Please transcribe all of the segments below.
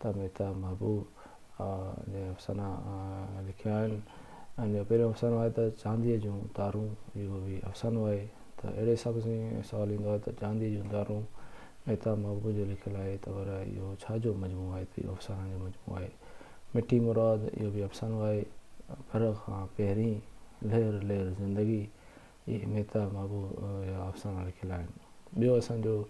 ته مهتاب محبوب ۽ افسانه لکيا آهن ۽ جو پهريون افسانو آهي ته چانديء جون تارون اهو به افسانو آهي ته اهڙي حساب سان سوال ايندو آهي ته چانديء جون تارون مهتاب محبوب جو لکيل آهي ته پر اهو ڇا جو مجموعو آهي ته اهو افسانن جو مجموعو آهي مٺي مراد اهو به افسانو آهي گهر کان پهرين لهر لهر زندگي اهي ميتا مابو جا افسانا لکيل آهن. ٻيو اسان جو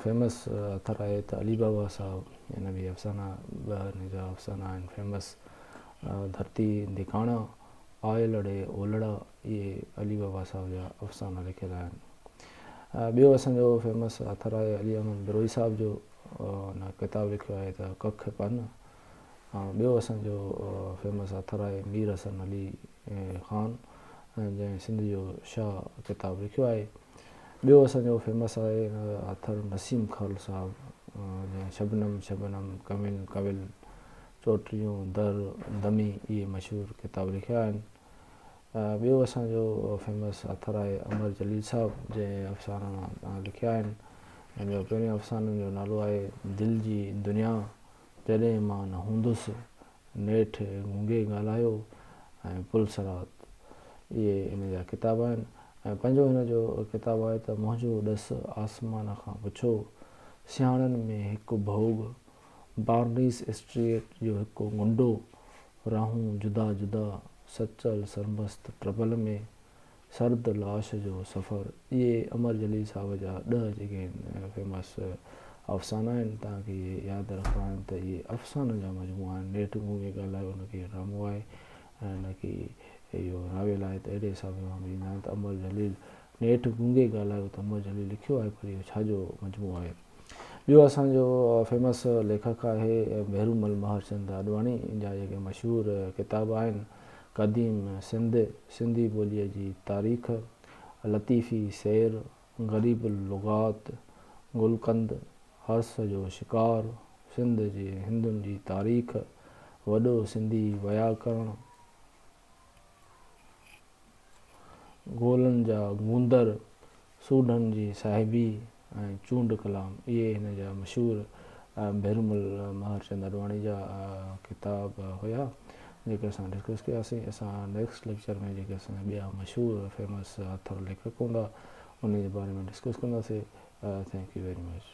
فيمس اٿر آهي ته علي بابا صاحب جن به افسانا ٻه هن جا افسانا آهن فيمس ڌرتي ڌڪاڻا، آيل اڙي اولڙا اهي علي بابا صاحب جا افسانا لکيل آهن. ٻيو اسان جو فيمس اٿر آهي علي احمد بروهي صاحب جو هن ڪتاب لکيو آهي ته ڪک پن ٻيو اسان جو فيمس اٿر آهي مير حسن علي خان جنهن سنڌ جو شاهه ڪتاب لکيو آهي. ٻيو اسان جو فيمس آهي آٿر نسيم خان صاحب جنهن شبنم، شبنم، ڪوين، ڪول، چوٽيون، در، دمي اهي مشهور ڪتاب لکيا آهن. ٻيو اسان جو فيمس آٿر آهي امر جليل صاحب جنهن افسانا لکيا آهن. جنهن جو پهرين افسانن جو نالو آهي دل جي دنيا. جڏهن مان نه هوندس، نيٺ گونگي ڳالهايو ۽ پل صراط. اهي هن جا ڪتاب آهن ۽ پنجون هن جو ڪتاب آهي ته منهنجو ڏس آسمان کان پڇو، سياڻن ۾ هڪ ڀوڳ، بارنيس اسٽريٽ جو هڪ غنڊو، راهون جدا جدا، سچل سرمست ٽربل ۾، سرد لاش جو سفر، اهي امر جليل صاحب جا ڏهه جيڪي هن فيمس افسانا آهن، تان کي اهي ياد رکڻا آهن ته اهي افسانن جا مجموعا آهن، نيٺ مون ائين ڳالهايو نه ڪي ڊرامو آهي ۽ نه ڪي اهو ناول آهي ته اهڙي حساب سان سمجهه ايندا آهن ته امر جليل نيٺ گونگي ڳالهايو ته امر جليل لکيو آهي پر اهو ڇا جو مجموعو آهي. ٻيو اسان جو فيمس ليکڪ آهي مهرومل مهرچند آڏواڻي جا جيڪي مشهور ڪتاب آهن قديم سنڌ، سنڌي ٻوليء جي تاريخ، لطيفي سير، غريب اللغات، گلقند، حرص جو شڪار، سنڌ جي هندن جي تاريخ، وڏو سنڌي وياڪرڻ، گولن جا گوندر، سوڍن جي صاحبي ۽ چونڊ ڪلام اهي هن جا مشهور ڀيرومل مهرچند اڏواڻي جا ڪتاب هيا جيڪي اسان ڊسڪس ڪياسين اسان نيڪسٽ ليڪچر ۾ جيڪي اسان جا ٻيا مشهور فيمس آٿر ليکڪ هوندا انهن جي باري ۾ ڊسڪس ڪنداسين ٿينڪ يو ويري مچ